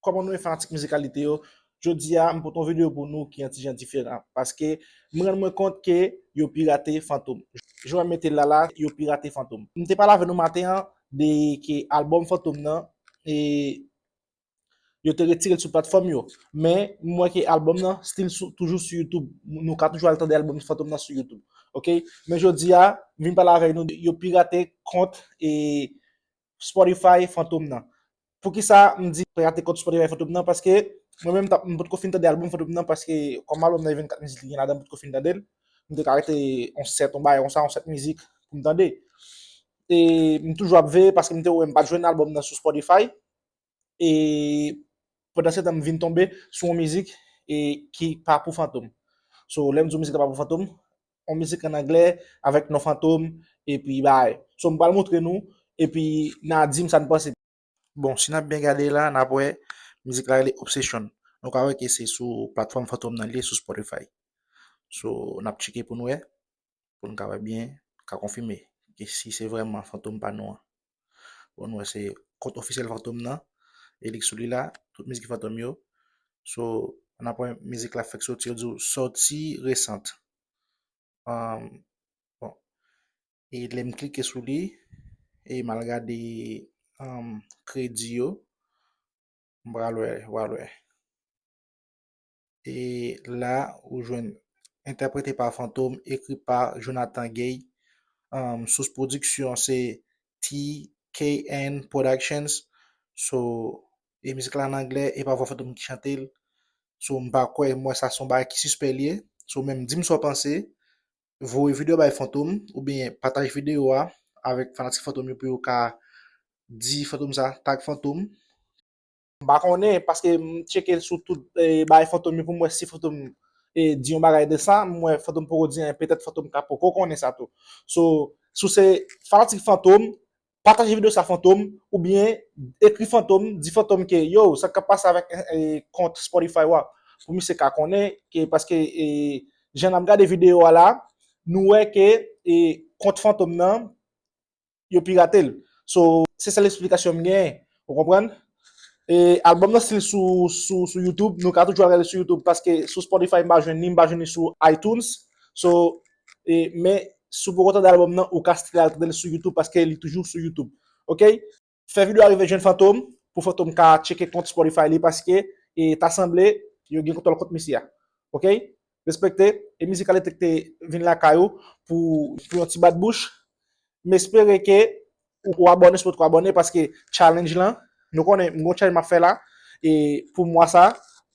Kòman nou ye fanatik mizikalite yo, jodi a m pote yon video pou nou ki yon ti jan diferan, paske m rann mwen kont ke yo pirate Fantom. Jan yo mete l la la, yo pirate Fantom. M te pale avè nou maten an de ke albòm Fantom nan e yo te retire l sou platfòm yo, men m wè ke albòm nan stil sou toujou sou YouTube, nou ka toujou al tande albòm Fantom nan sou YouTube, ok. Men jodi a, m vin pale avè nou de yo pirate kont e Spotify Fantom nan. Poukisa m di pa rate kont Spotify Fantom nan paske mwen menm tap m potko fin tande album Fantom nan paske kòm album nan gen 24 mizik li gen ladan m potko fin tande l. M te ka rete on 7 on bagay konsa on 7 mizik pou m tande. E m toujou ap veye paske m te wè m pat jwenn album nan sou Spotify. e pandan setan m vin tonbe sou yon mizik e ki pa pou fantom so lèm di w mizik la pa pou fantom yon mizik an anglè avèk non fantom epi bay so m pral montre nou epi na di m sa n panse bon si n ap byen gade la n ap wè mizik la rele obsession nou ka wè ke se sou platfòm fantom nan li ye sou spotify so n ap tcheke pou n wè. pou nou ka wè byen, ka konfime ki si se vreman fantom pa nou an. Bon nou wè se kont ofisyel fantom nan, e li sou li la, tout mizik fantom yo. So, an apwen mizik la fèk soti, yo di ou soti resant. Um, bon, e lè m klike sou li, e m al gade um, kredi yo, m pral wè, wal wè. E la ou jwenn Entèprete pa Fantom, ekri pa Jonathan Gay. Sous pwodiksyon se TKN Productions. So, e mizik la an anglè, e pa vwa Fantom ki chante l. So, m pa kwè, m wè sa se yon bagay ki sispè l ye. So, menm di m sa w panse. Voye videyo a bay Fantom oubyen pataje videyo a avèk fanatik Fantom yo pou yo ka di Fantom sa, tag Fantom. M pa konnen paske m tcheke sou tout bagay Fantom yo pou m wè si Fantom di yon bagay de sa. M wè Fantom poko di anyen. Petèt Fantom ka poko konnen sa tou. So, si w se fanatik Fantom, pataje videyo sa Fantom oubyen ekri Fantom, di Fantom ke yo, sa k ap pase avèk kont Spotify ou a? Pou misye ka konnen ke paske jan n ap gade videyo a la, nou wè ke kont Fantom nan. yo pirate l so se sèl esplikasyon m gen ou konprann e album nan stil sou sou youtube nou ka toujou al gade l sou youtube paske sou spotify m pa jwenn li m pa jwenn li sou itunes so e men si w poko tande album nan ou ka stil al tande l sou youtube paske li toujou sou youtube ok. Fè video a rive jwenn Fantom pou Fantom ka tcheke kont spotify li paske e ta sanble yo gen kontwòl kont misye a ok. Respekte e Mizikalektrik te vin lakay ou pou yon ti bat bouch. M espere ke ou abòne si w potko abòne paske challenge lan, nou konnen m gon challenge m ap fè la e pou mwa sa,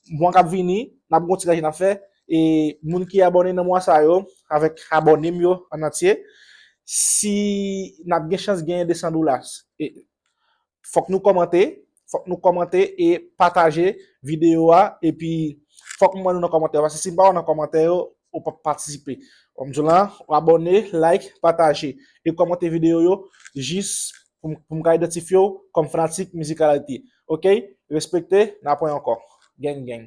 mwa k ap vini n ap gon ti challenge n ap fè e moun ki abòne nan mwa sa yo avèk abòne m yo an antye si n ap gen chans genyen 200 dollars. Fòk nou kòmante, fòk nou kòmante e pataje videyo a, epi fòk mwen nou nan kòmantè yo, paske si m pa wè w nan kòmantè yo, ou p ap patisipe. Kòm m di w lan, ou abòne, like, pataje, e kòmante videyo yo jis pou m ka idantifye w kòm fanatik Mizik Alalite. Ok, respekte, n a pwen ankò. Geng geng.